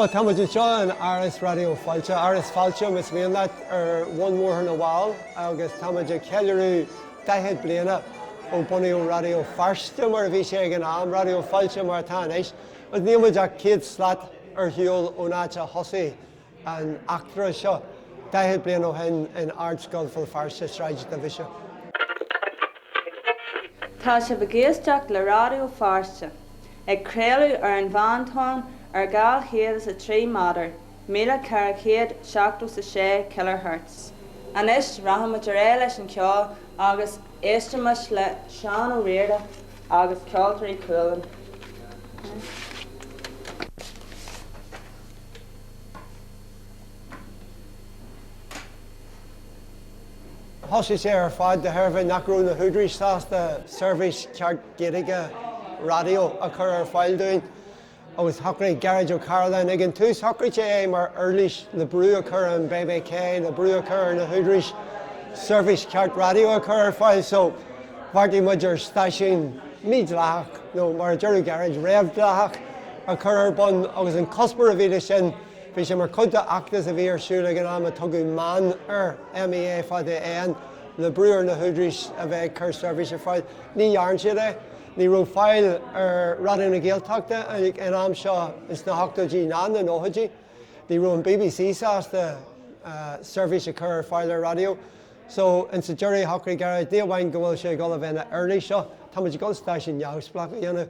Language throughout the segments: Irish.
Bhuel, tá muid anseo in Áras Raidió Fáilte, Áras Fáilte, más mian leat, ar bhun Bhóthar na bhFál agus tá muid ag ceiliúradh 40 bliain ó bunaíodh Raidió Feirste, mar a bhí sé ag an am, Raidió Fáilte mar atá anois, agus níl muid ach céad slat ar shiúl ón áit a thosaigh an eachtra seo, 40 bliain ó shin, in Ardscoil Bhéal Feirste, Sráid Duibhise. Tá sibh ag éisteacht le Raidió Feirste, ag craoladh ar an Mheántonn ar 203 méadar 1476 kHz. Anois, rachaimid ar aghaidh leis an cheol agus éistfimis le Seán Ó Riada agus Ceoltóirí Chualann. Thosaigh sé ar fad de thairbhe nach raibh na húdaráis sásta seirbhís ceart Gaeilge raidió a chur ar fáil dúinn. agus shocraigh Gearóid Ó Cairealláin ag an tús, shocraigh sé é mar uirlis le brú a chur ar an BBC, le brú a chur ar na húdaráis seirbhís cheart raidió a chur ar fáil. So, bheartaigh muid ar stáisiún mídhleathach, nó mar a deireadh Gearóid, réamhdhleathach, a chur ar bun agus an cuspóir a bhí leis sin, bhí sé mar chuid de fheachtas a bhí ar siúl ag an am a tugadh Meán air, M-E-A fada, N, le brú ar na húdaráis a bheith ag cur seirbhís ar fáil. Ní dhearn siad é. Ní raibh fáil ar Raidió na Gaeltachta ag an am seo sna hochtóidí ná na nóchaidí. Ní raibh an BBC sásta seirbhís a chur ar fáil ar raidió. So, ins a' deireadh shocraigh Gearóid, ní amháin go bhfuil sé ag dul a bheith ina uirlís seo, tá muid ag dul stáisiún neamhspleách a dhéanamh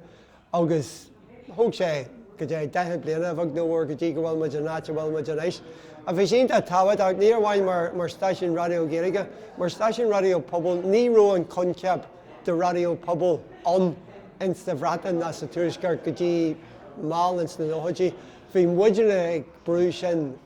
agus, Thóg sé go dtí daichead bliana, a bheag nó a mhór, go dtí go bhfuil muid an áit a bhfuil muid anois. Ach bhí sé iontach tábhachtach, ní amháin mar stáisiún raidió Gaeilge, mar stáisiún raidió pobail. Ní raibh an coincheap de raidió pobail ann insa Bhreatain ná sa Tuaisceart go dtí mall ins na nóchaidí. Bhí muidinne ag brú sin.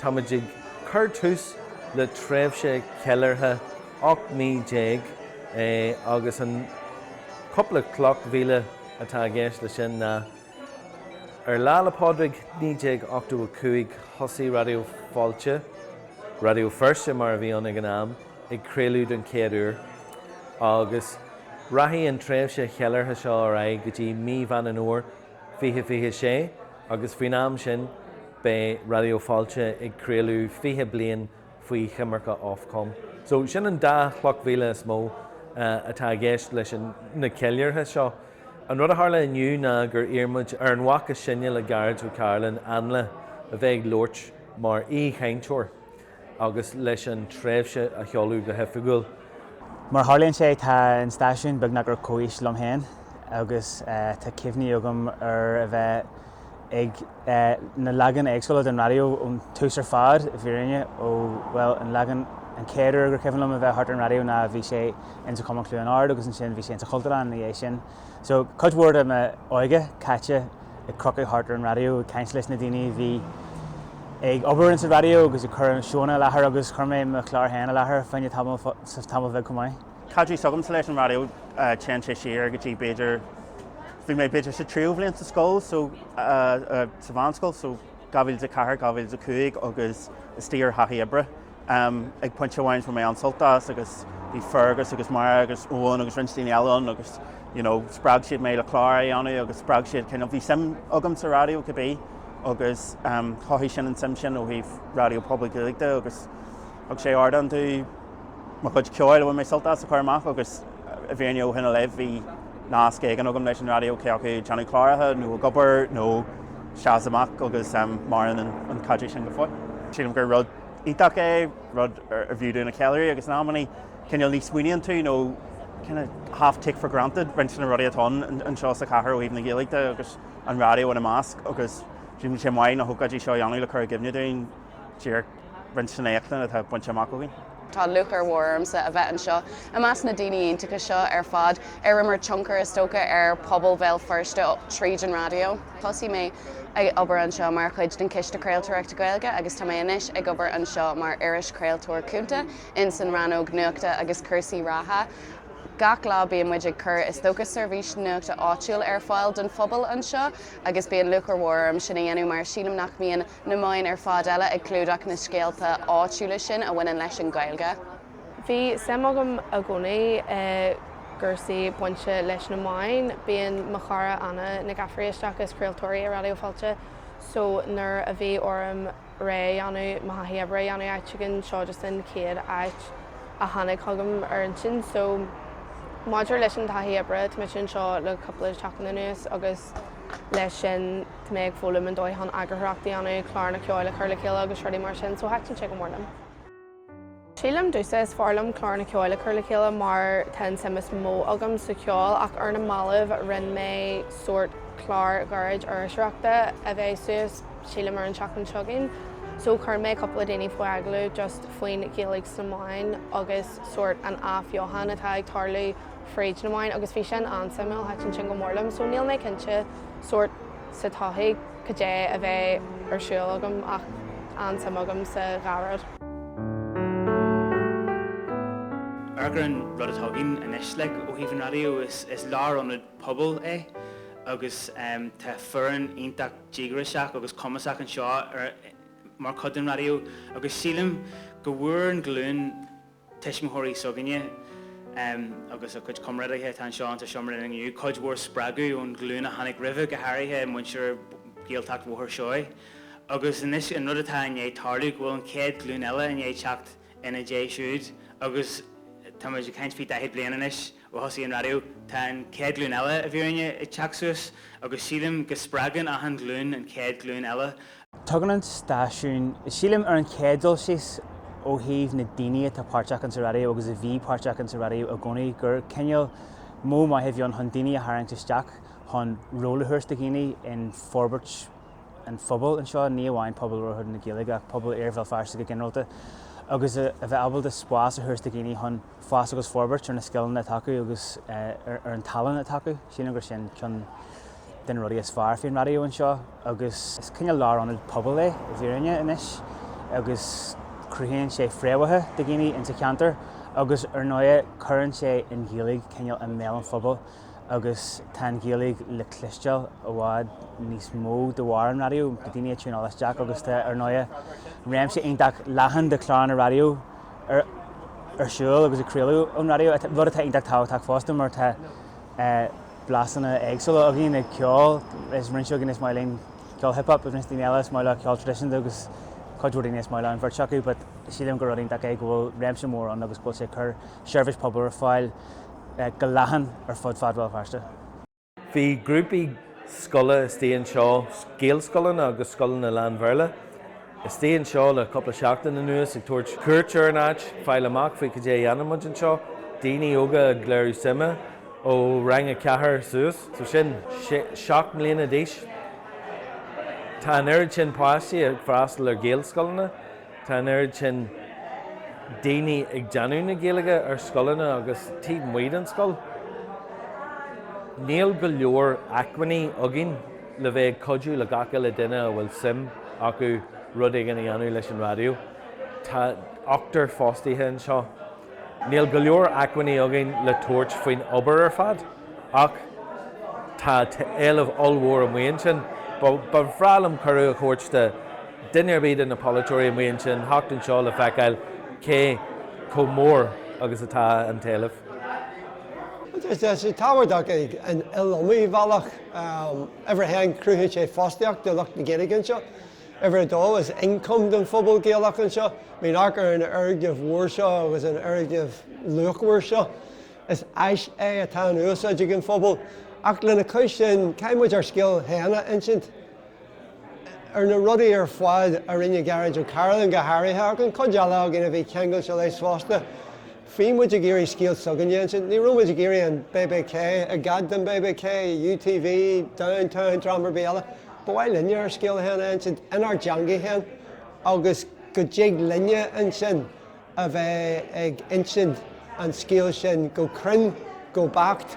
Tá muid ag cur tús le tréimhse cheiliúrtha 18 mí, agus an cúpla cloch mhíle atá i gceist leis sin ná, ar Lá 'le Pádraig 1985 thosaigh Raidió Fáilte, Raidió Feirste mar a bhí ann ag an am, ag craoladh den chéad uair, agus rachaidh an tréimhse cheiliúrtha seo ar aghaidh go dtí mí Mheán an Fhómhair 2026 agus faoin am sin beidh Raidió Fáilte ag craoladh 20 bliain faoi choimirce Ofcom. So sin an dá chloch mhíle is mó atá i gceist leis na ceiliúrtha seo. An rud a tharla inniu ná gur iarr muid ar an mhac is sine le Gearóid Ó Cairealláin, Ainle, a bheith ag labhairt mar aoi-chainteoir. agus leis an tréimhse a sheoladh go hoifigiúil. Mar a tharlaíonn sé, tá an stáisiún beagnach ar comhaois liom féin agus tá cuimhní agam ar a bheith ag na leaganacha éagsúla den raidió ón tús ar fad, i bhfírinne, ón, bhuel, an leagan, an chéad uair gur cuimhin liom a bheith thart ar an raidió ná bhí sé in sa Chumann Chluain Ard agus ansin bhí sé in sa Chultúrlann ina dhiaidh sin. So, cuid mhór de m'óige caite. ag crochadh thart ar an raidió ag caint leis na daoine a bhí ag obair insa raidió agus ag cur seóanna i láthair agus chuir mé mo chlár féin i láthair fá choinne tamaill bhig chomh maith. Caidreamh s'agamsa leis an raidió téann sé siar go dtí b'fhéidir, bhí mé b'fhéidir sa tríú bhliain sa scoil so, sa mheánscoil so 2004, 2005 agus is tír ar thaithí oibre. am. Ag pointe amháin fuair mé an-sult as agus bhí Fergus agus Máire agus Eoghan agus roinnt daoine eile ann agus you know spreag siad mé le clár a dhéanamh agus spreag siad cineál, bhí suim agam sa raidió cibé agus am, chothaigh sin an tsuim sin ó thaobh Raidió Pobail Gaeilge de agus thug sé ardán do mo chuid ceoil a bhfuair mé sult as a chur amach agus i bhfírinne ó shin i leith bhí nasc éigin agam leis an raidió cé acu ag déanamh cláracha nó ag obair nó isteach is amach agus am, maireann an caidreamh sin go fóill. Sílim gur rud iontach é, rud arbh fhiú dúinn a cheiliúradh agus in amannaí cineál ní smaoiníonn tú nó kinda half take for granted roinnt de na rudaí atá ann anseo sa chathair ó thaobh na Gaeilge de agus an raidió ina measc agus tá sé maith na hócáidí seo a dhéanamh le cur i gcuimhne dúinn díreach roinnt den éachtaint atá bainte amach againn. Tá lúcháir mhór ormsa a bheith anseo i measc na ndaoine iontacha seo ar fad ar imir tionchar is dócha ar phobal Bhéal Feirste tríd an raidió. Thosaigh mé ag obair anseo mar chuid den Chiste Craoltóireachta Gaeilge agus tá mé anois ag obair anseo mar irischraoltóir cúnta insan rannóg Nuachta agus Cúrsaí Reatha. Gach lá bíonn muid ag cur is dócha seirbhís nuachta áitiúil ar fáil don phobal anseo agus bíonn lúcháir mhór orm sin a dhéanamh mar sílim nach mbíonn na meáin ar fad eile ag clúdach na scéalta áitiúla sin a bhaineann leis an Ghaeilge. Bhí suim agam i gcónaí i gcúrsaí bainte leis na meáin. Bíonn mo chara Anna Nic Gafraidh isteach is craoltóir í i Raidió Fáilte so nuair a bhí orm réidh a dhéanamh, mo thaithí oibre a dhéanamh áit éigin, seo just an chéad áit a tháinig chugam ar intinn. So maidir leis an taithí oibre, tá mise anseo le cúpla seachtain anuas agus leis sin tá mé ag foghlaim an dóigh chun eagarthóireacht a dhéanamh, cláracha ceoil a chur le chéile agus rudaí mar sin so thaitin sé go mór liom. Sílim domhsa, is fearr liom cláranna ceoil a chur le chéile mar tá an tsuim is mó agam sa cheol ach ar na mallaibh rinne mé sórt clár ghairid iriseoireachta a bheidh suas sílim ar an tseachtain seo chugainn so chuir mé cúpla daoine faoi agallamh just faoin Ghaeilge sna meáin agus sórt an athbheochan atá ag tarlú fríd na meáin agus bhí sin an-suimiúil, thaitin sin go mór liom so níl mé cinnte sórt sa todhchaí cad é a bheidh ar siúl agam ach an-suim agam sa dhá rud. Ar an rud atá againn anois like ó thaobh an raidió, is lárionad pobail é agus tá foireann iontach díograiseach agus cumasach anseo mar chuid den raidió agus sílim go bhfuair an ghlúin, tuismitheoirí s'againne agus a gcuid comrádaithe atá anseo insa seomra linn inniu, cuid mhór spreagadh ón ghlúin a tháinig roimhe, go háirithe muintir Ghaeltacht Bhóthar Seoighe. Agus anois, an rud atá i ndiaidh tarlú, go bhfuil an chéad ghlúin eile i ndiaidh teacht ina ndiaidh siúd agus táimid ag caint faoi 40 bliain anois, Ó thosaigh an raidió, tá an chéad ghlúin eile i bhfírinne ag teacht suas agus sílim go spreagann achan ghlúin an chéad ghlúin eile. Tugann an stáisiún, sílim, ar an chéad dul síos ó thaobh na daoine atá páirteach insa raidió agus a bhí páirteach insa raidió i gcónaí gur cineál modh maith a bhí ann chun daoine a tharraingt isteach chun ról a thabhairt do dhaoine in forbairt an phobail anseo, ní amháin pobal labhartha na Gaeilge ach pobal iarthar Bhéal Feirste go ginearálta agus a bheith ábalta spás a thabhairt do dhaoine chun. fás agus forbairt ar na scileanna atá acu agus ar an tallann atá acu. Sílim gur sin ceann de na rudaí is fearr faoin raidió anseo agus is cineál lárionad pobail é i bhfírinne anois agus cruthaíonn sé fréamhacha do dhaoine insa cheantar agus ar ndóighe cuireann sé an Ghaeilge cineál i mbéal an phobail agus tá an Ghaeilge le cloisteáil i bhfad níos mó de bharr an raidió, daoine ag tiúnáil isteach agus tá, ar ndóighe, réimse iontach leathan de chláranna raidió ar siúl agus ag craoladh ón raidió, rud atá iontach tábhachtach fosta mar tá blasanna éagsúla againn ag ceol, roinnt againn, is maith linn ceol hip hop, roinnt daoine eile, is maith leo ceol traidisiúnta agus cuid mhór daoine is maith leo an bheirt acu but sílim gur rud iontach é go bhfuil réimse mór ann agus go bhfuil sé ag cur seirbhís pobail ar fáil go leathan ar fud fad Bhéal Feirste. Bhí grúpaí scoile istigh anseo, Gaelscoileanna agus scoileanna lán-Bhéarla, istigh anseo le cúpla seachtain anuas ag tabhairt cuairt ar an áit, fáil amach faoi cad é a dhéanann muid anseo, daoine óga ag léiriú suime, ó rang a ceathair suas, so sin seacht mbliana d'aois. Tá an oiread sin páistí ag freastal ar Ghaelscoileanna. Tá an oiread sin daoine ag déanamh na Gaeilge ar scoileanna agus taobh amuigh den scoil, níl go leor acmhainní againn le bheith ag cuidiú le gach uile duine a bhfuil suim acu rud éigin a dhéanamh leis an raidió. Tá ochtar fostaithe anseo. Níl go leor acmhainní againn le tabhairt faoin obair ar fad. Ach tá éileamh ollmhór amuigh ansin. Ba bhreá liom cuireadh a thabhairt do duine ar bith de na polaiteoirí amuigh ansin theacht anseo le feiceáil cé chomh mór agus atá an t-éileamh. Tá sé tábhachtach ar an iliomad bealach. Uimhir a haon, cruthaíonn sé fostaíocht do lucht na Gaeilge anseo. Uimhir a dó, is ioncam don phobal Gaelach anseo. Muineach ar an fhoirgneamh mhór seo agus an fhoirgneamh luachmhar seo. Is áis é atá in úsáid ag an phobal ach lena chois sin caithfidh muid ár scéal féin a insint, ar na rudaí ar fad a rinne Gearóid Ó Cairealláin go háirithe ach an chuid eile againn a bhí ceangailte leis fosta. Bhí muid ag iarraidh scéal s'againn a insint, ní raibh muid ag iarraidh an BBC, i gcead don BBC, UTV, Downtown, dream ar bith eile. Ba mhaith linne ár scéal féin a insint inár dteanga féin agus go dtig linne ansin, a bheith ag insint an scéil sin go cruinn, go beacht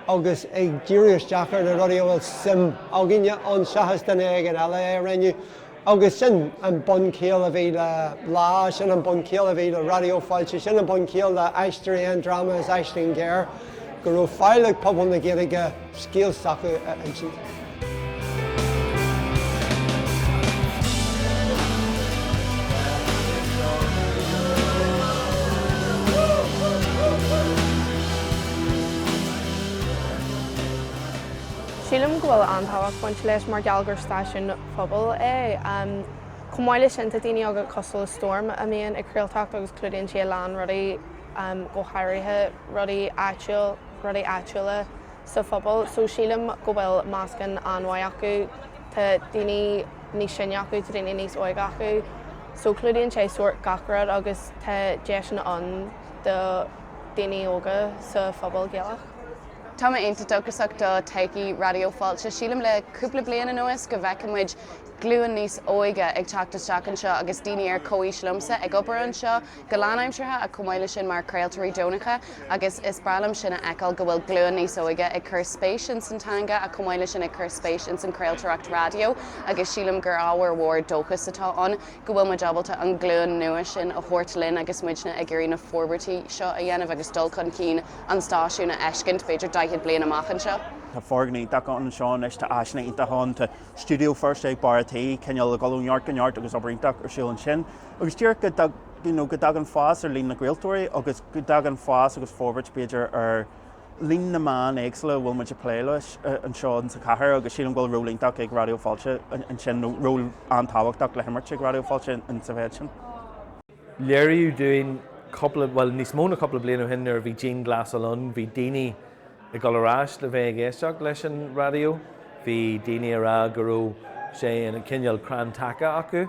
agus ag díriú isteach ar na rudaí a bhfuil suim againne ann seachas duine éigin eile á dhéanamh. Agus sin an bunchiall a bhí le Lá, sin an bunchiall a bhí le Raidió Fáilte, sin an bunchiall le Aisteoirí Aon Dráma is Aisling Ghéar, go raibh faill ag pobal na Gaeilge, scéal s'acu a insint. Sílim go bhfuil an-tábhacht bainte leis mar gheall gur stáisiún pobail é. Chomh maith leis sin, tá daoine agat cosúil le Storm a mbíonn ag craoltóireacht agus clúdaíonn sí a lán rudaí, go háirithe rudaí áitiúil. rudaí áitiúla sa phobal so sílim go bhfuil meascán an-mhaith acu. Tá daoine níos sine acu, tá daoine níos óige acu so clúdaíonn sé sórt gach rud agus tá deiseanna ann do dhaoine óga sa phobal Gaelach. Tá mé iontach dóchasach do todhchaí Raidió Fáilte. Sílim le cúpla bliain anuas go bhfeiceann muid glúin níos óige ag teacht isteach anseo agus daoine ar comhaois liomsa ag obair anseo. go lánaimseartha agus chomh maith leis sin mar chraoltóirí deonacha agus is breá liom sin a fheiceáil go bhfuil glúin níos óige ag cur spéis in san teanga agus chomh maith leis sin ag cur spéis in san chraoltóireacht raidió agus sílim gur ábhar mhór dóchas atá ann go bhfuil muid ábalta an glúin nua sin a thabhairt linn agus muidne ag iarraidh na forbairtí seo a dhéanamh agus dul chun cinn an stáisiúin a fheiscint b'fhéidir 40 bliain amach anseo. Tá foirgneamh iontach ann anseo anois, tá áiseanna iontacha ann, tá stiúideo Feirste ag barr an tí, cineál ag dul ó neart go neart agus obair iontach ar siúl ansin. agus díreach go dtagann fás ar líon na gcraoltóirí agus go dtagann fás agus forbairt b'fhéidir ar líon na meán éagsúla a bhfuil muid ag plé leis anseo sa chathair agus sílim go bhfuil ról iontach ag Raidió Fáilte ansin nó ról an-tábhachtach le himirt ag Raidió Fáilte sa mhéid sin. Léiríodh dúinn cúpla, bhuel níos mó ná cúpla bliain ó shin nuair a bhí an dianghlasáil ann, bhí daoine ag dul ar ais le bheith ag éisteacht leis an raidió, bhí daoine ag rá go raibh sé ina cineál crann taca acu.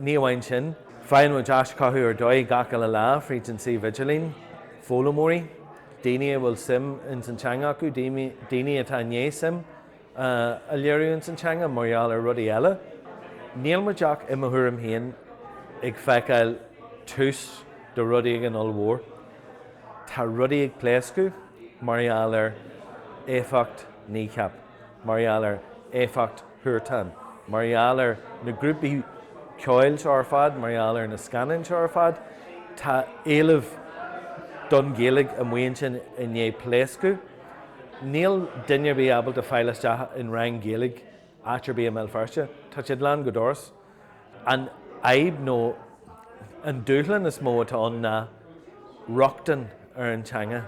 Ní amháin sin, faigheann muid aischothú ar dóigh gach uile lá fríd an suíomh idirlín, foghlaimeoirí, daoine a bhfuil suim ins an teanga acu, daoine atá i ndiaidh suim a léiriú ins an teanga mar gheall ar rudaí eile. Níl muid ach, i mo thuairim féin, ag feiceáil tús do rud éigin ollmhór. Tá rudaí ag pléascadh mar gheall ar éifeacht Kneecap. mar gheall ar éifeacht Huartan, mar gheall ar na grúpaí ceoil seo ar fad, mar gheall ar na scannáin seo ar fad, tá éileamh don Ghaeilge amuigh ansin i ndiaidh pléascadh. Níl duine ar bith ábalta fáil isteach in rang Gaeilge áit ar bith i mBéal Feirste, tá siad lán go doras. An fhadhb nó an dúshlán is mó atá ann ná rochtain ar an teanga.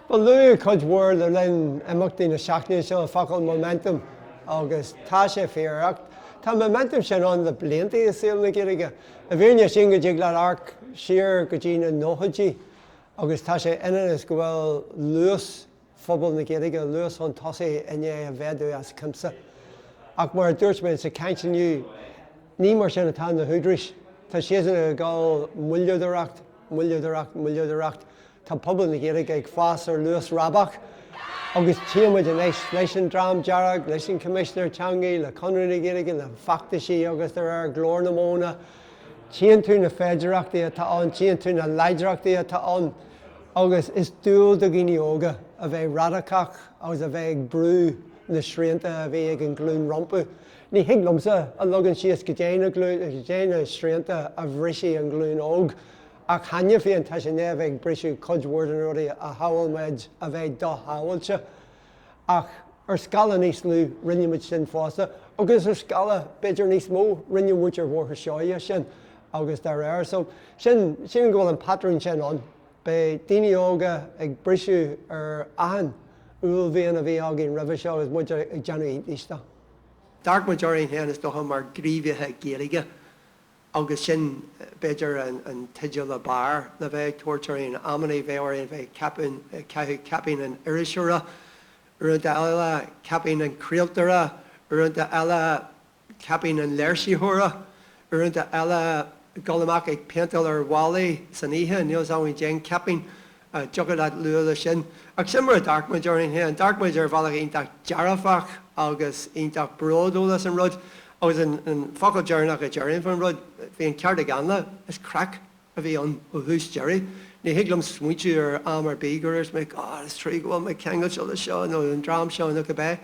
Bhuel, luadh cuid mhór le linn imeachtaí na seachtaine seo an focal momentum agus tá sé fíor. Ach tá an momentum sin ann le blianta i saol na Gaeilge. I bhfírinne, sílim go dtig leat amharc siar go dtí na nóchaidí agus tá sé ionann is go bhfuil luas, phobal na Gaeilge luas chun tosaigh i ndiaidh a mhéadú as cuimse. Ach mar a dúirt mé sa chaint inniu, ní mar sin atá na húdaráis. Tá siadsan ag gabháil moilleadóireacht, moilleadóireacht, moilleadóireacht. Tá pobal na Gaeilge ag fás ar luas rábach agus tchíonn muid anois leis an Dream Dearg, leis an Choimisinéir Teanga, le Conradh na Gaeilge, le feachtaisí agus dá réir, Glór na Móna, tchíonn tú na féidearthachtaí atá ann, tchíonn tú na láidreachtaí atá ann agus is dual do dhaoine óga a bheith radacach agus a bheith ag brú na srianta a bhí ag an ghlúin rompu. Ní thig liomsa a leagan síos goidé na goidé na srianta a bhrisfidh an ghlúin óg ach cheana féin tá siad i ndiaidh a bheith ag briseadh cuid mhór de na rudaí a shamhail muid a bheith do-shamhailte. ach ar scála níos lú rinne muid sin fosta agus ar scála b'fhéidir níos mó rinne muid ar Bhóthar Seoighe sin agus dá réir. So sílim go bhfuil an patrún sin ann. Beidh daoine óga ag briseadh ar achan uaillmhian a bhí againn roimhe seo agus muid ag déanamh iontais de. D'amharc muid orainn féin is dócha mar ghníomhaithe Gaeilge agus sin, b'fhéidir, an teideal ab fhearr le bheith ag tabhairt orainn amannaí, bheadh ort bheith ag caitheamh caipín an iriseora, uaireanta eile, caipín an chraoltóra, uaireanta eile, caipín an léirsitheora, uaireanta eile, ag dul amach ag péinteáil ar bhallaí san oíche, níl a fhios agam cén caipín a dtiocfadh leat a lua leis sin. Ach sin mar a d'amharc muid orainn féin. D'amharc muid ar bhealach iontach dearfach agus iontach bródúil as an rud. Agus an focal deireanach a déarfainn faoin rud, bhí an ceart ag Ainle, is craic a bhí ann ó thús deireadh. Ní thig liom smaointiú ar am ar bith gur dhúirt mé, God, is trua go bhfuil mé ceangailte le seo nó an dream seo nó cibé.